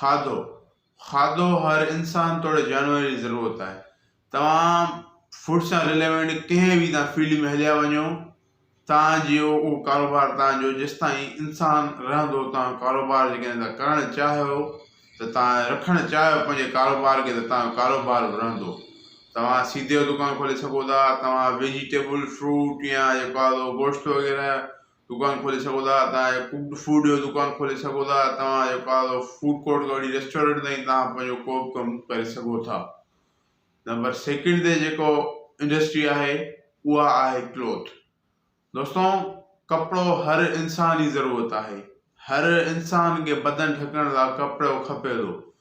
کاڌو، کاڌو هر انسان توڙي جانور جي ضرورت آهي توهان فوڊ سان رليونٽ ڪنهن به تان فيلڊ ۾ هليا وڃو توهان جي اهو ڪاروبار توهان جو جيستائين انسان رهندو توهان ڪاروبار جي ڪڏهن ته ڪرڻ چاهيو ته توهان رکڻ چاهيو پنهنجي ڪاروبار کي ته توهان جو ڪاروبار به رهندو توهان سيڌو دڪان کولي سگهو ٿا توهان ويجيٽيبل فروٽ يا جيڪو آهي سو گوشت وغيره دڪان کولي سگهو ٿا توهان اهي ڪوڪڊ فوڊ جو دڪان کولي سگهو ٿا توهان اهو ڪا فوڊ ڪورٽ کان وٺي ريسٽورنٽ تائين توهان پنهنجو ڪو به ڪم ڪري سگهو ٿا نمبر سيڪنڊ تي جيڪو انڊسٽري آهي اها آهي ڪلوٿ دوستو ڪپڙو هر انسان جي ضرورت آهي هر انسان کي بدن ڍڪڻ لاء ڪپڙو کپي ٿو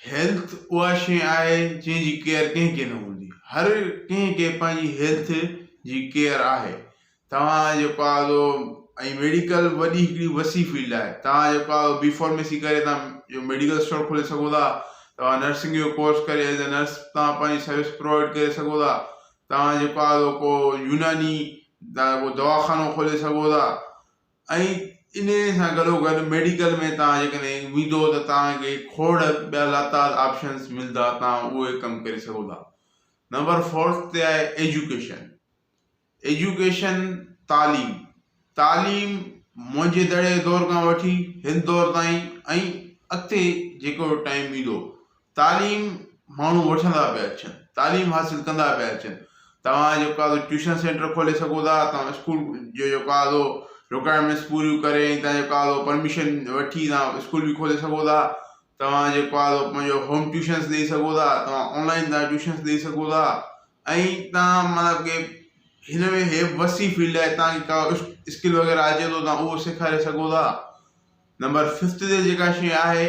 هيلٿ اها شيء آهي جنهن جي ڪيئر ڪنهن کي نه هوندي هر ڪنهن کي پنهنجي هيلٿ جي ڪيئر آهي توهان جيڪو آ سو ۽ ميڊيڪل وڏي هڪڙي وسيع فيلڊ آهي توهان جيڪو آ بي فارميسي ڪري توهان ميڊيڪل اسٽور کولي سگهو ٿا توهان نرسنگ جو ڪورس ڪري ايز اي نرس توهان پنهنجي سروس پرووائيڊ ڪري سگهو ٿا توهان جيڪو آ سو ڪو يوناني دوا خانو کولي سگهو ٿا ۽ انهي سان گڏوگڏ ميڊيڪل ۾ توهان جيڪڏهن ويندو ته توهان کي کوڙ ٻيا لاتعداد آپشنز ملدا توهان اهي ڪم ڪري سگهو ٿا نمبر فورٿ تي آهي ايجوڪيشن ايجوڪيشن تعليم تعليم منهنجي دڙي دور کان وٺي هن دور تائين ۽ اڳتي جيڪو ٽائيم ايندو تعليم ماڻهو وٺندا پيا اچن، تعليم حاصل ڪندا پيا اچن، توهان جيڪو آهي سو ٽيوشن سينٽر کولي سگهو ٿا، توهان اسڪول جو جيڪو آهي سو رڪوائرمينٽس پوريون ڪري ۽ توهان جيڪو آهي سو پرميشن وٺي توهان اسڪول به کولي سگهو ٿا، توهان جيڪو آهي سو پنهنجو هوم ٽيوشنس ڏئي سگهو ٿا، توهان آن لائين توهان ٽيوشنس ڏئي سگهو ٿا ۽ توهان مطلب ڪي هن ۾ هي وسي فيلڊ آهي توهان کي ڪا اسڪل وغيره اچي ٿو توهان اهو سيکاري سگهو ٿا نمبر ففت تي جيڪا شيء آهي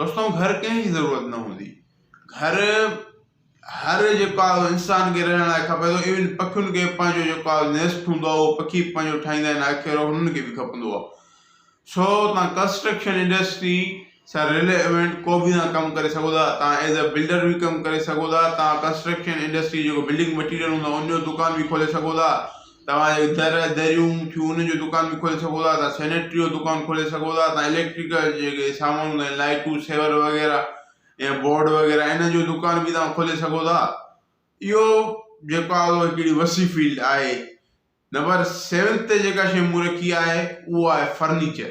توسان گهر ڪنهن جي ضرورت نه هوندي. گهر هر جيڪو آهي اهو انسان کي رهڻ لاء کپي ٿو ايون پکين کي پنهنجو جيڪو آهي نيسٽ هوندو آهي اهو پکي به پنهنجو ٺاهيندا آهن آخر هنن کي به کپندو آهي سو تان ڪنسٽرڪشن انڊسٽري سان رليونٽ ڪو به تان ڪم ڪري سگهو ٿا تان ايز اي بلڊر به ڪم ڪري سگهو ٿا تان ڪنسٽرڪشن انڊسٽري جيڪو بلڊنگ مٽيريل هوندو آهي ان جو دڪان به کولي سگهو ٿا توهان جي در، دريون، چون جو دڪان به کولي سگهو ٿا، توهان سينيٽري جو دڪان کولي سگهو ٿا، توهان اليڪٽرڪ جا جيڪي سامان هوندا آهن لائيٽون، سيور وغيره يا بورڊ وغيره انهن جو دڪان به توهان کولي سگهو ٿا. اهو جيڪو آهي اهو هڪڙي وسيع فيلڊ آهي. نمبر سيونٿ تي جيڪا شيء مون رکي آهي اهو آهي فرنيچر.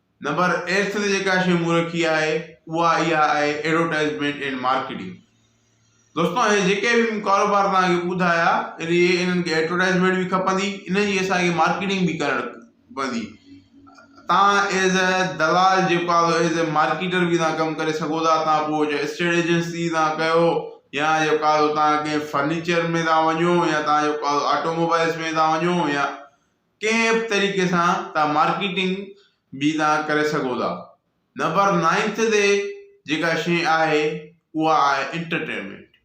نمبر ايرٿ تي جيڪا شيء مون رکي آهي اها اها آهي ايڊورٽائيزمينٽ اينڊ مارڪيٽنگ دوستو هي جيڪي به مون ڪاروبار تان کي ٻڌايا ان جي انهن کي ايڊورٽائيزمينٽ به کپندي ان جي اسان کي مارڪيٽنگ به ڪرڻ پوندي تان ايز اي دلال جيڪو آهو ايز اي مارڪيٽر به تان ڪم ڪري سگهو ٿا تان پوء جو اسٽيٽ ايجنسي تان ڪيو يا جيڪو آهو تان ڪي فرنيچر ۾ تان وڃو يا تان جيڪو آهو آٽو موبائلز ۾ تان وڃو يا ڪنهن به طريقي سان توهان مارڪيٽنگ جي تان ڪري سگهو ٿا. نمبر نائنٿ تي جيڪا شيء آهي اها آهي انٽرٽينمينٽ.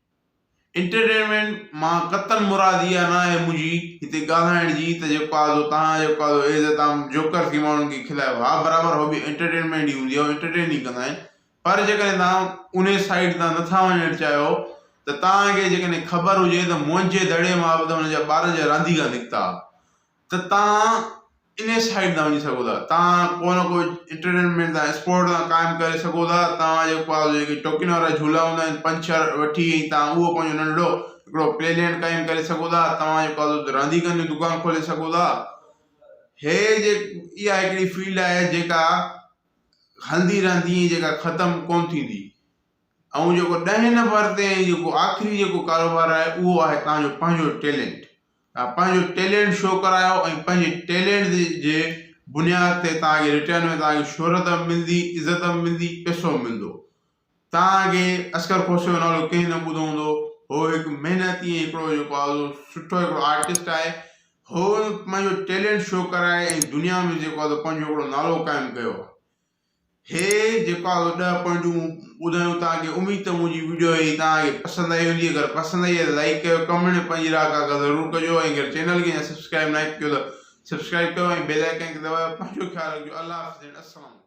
انٽرٽينمينٽ مان قطعاً مراد اها ناهي منهنجي هتي ڳالهائڻ جي ته جيڪو آزو تان آهي جيڪو آزو ايز تان جوڪر ٿي ماڻهن کي کلائي ها برابر هو به انٽرٽينمينٽ ئي هوندي آهي هو انٽرٽين ئي ڪندا آهن پر جيڪڏهن توهان انهي سائيٽ تان نٿا وڃڻ چاهيو ته توهان کي جيڪڏهن خبر هجي ته منهنجي دڙي مان به ته هن جا ٻارن جا رانديڪا نڪتا ته توهان انهي سائيٽ تان وڃي سگهو ٿا توهان ڪو نه ڪو انٽرٽينمينٽ تان اسپورٽ تان قائم ڪري سگهو ٿا توهان جي پاس جيڪي ٽوڪين وارا جهولا هوندا آهن پنج ڇهه وٺي ۽ توهان اهو پنهنجو ننڍڙو هڪڙو پلي لينڊ قائم ڪري سگهو ٿا توهان جي پاس اتي رانديڪن جو دڪان کولي سگهو ٿا هي جي اها هڪڙي فيلڊ آهي جيڪا هلندي رهندي ۽ جيڪا ختم ڪونه ٿيندي. ائون جيڪو ڏهين نمبر تي ۽ جيڪو آخري جيڪو ڪاروبار آهي اهو آهي توهان جو پنهنجو ٽيلينٽ. توهان پنهنجو ٽيلينٽ شو ڪرايو ۽ پنهنجي ٽيلينٽ تي جي بنياد تي توهان کي رٽرن ۾ توهان کي شهرت به ملندي، عزت به ملندي، پئسو به ملندو. توهان اڳي اصغر کوسي جو نالو ڪنهن نه ٻڌو هوندو. هو هڪ محنتي ۽ هڪڙو جيڪو آهي سو سٺو هڪڙو آرٽسٽ آهي. هو پنهنجو ٽيلنٽ شو ڪرائي ۽ دنيا ۾ جيڪو آهي سو پنهنجو هڪڙو نالو قائم ڪيو آهي. هي جيڪو آهي سو ڏهه پوائنٽون ٻڌايون توهان کي. اميد ته منهنجي وڊيو هي توهان کي پسند آئي هوندي. اگر پسند آئي آهي ته لائيڪ ڪيو، ڪمينٽ ۾ پنهنجي راء ڪا ڪا ضرور ڪجو ۽ اگر چينل کي اڃا سبسڪرائيب ناهي ڪيو ته سبسڪرائيب ڪيو ۽ بيل آئيڪن کي دٻايو. پنهنجو خيال رکجو. الله حافظ اينڊ السلام عليڪم.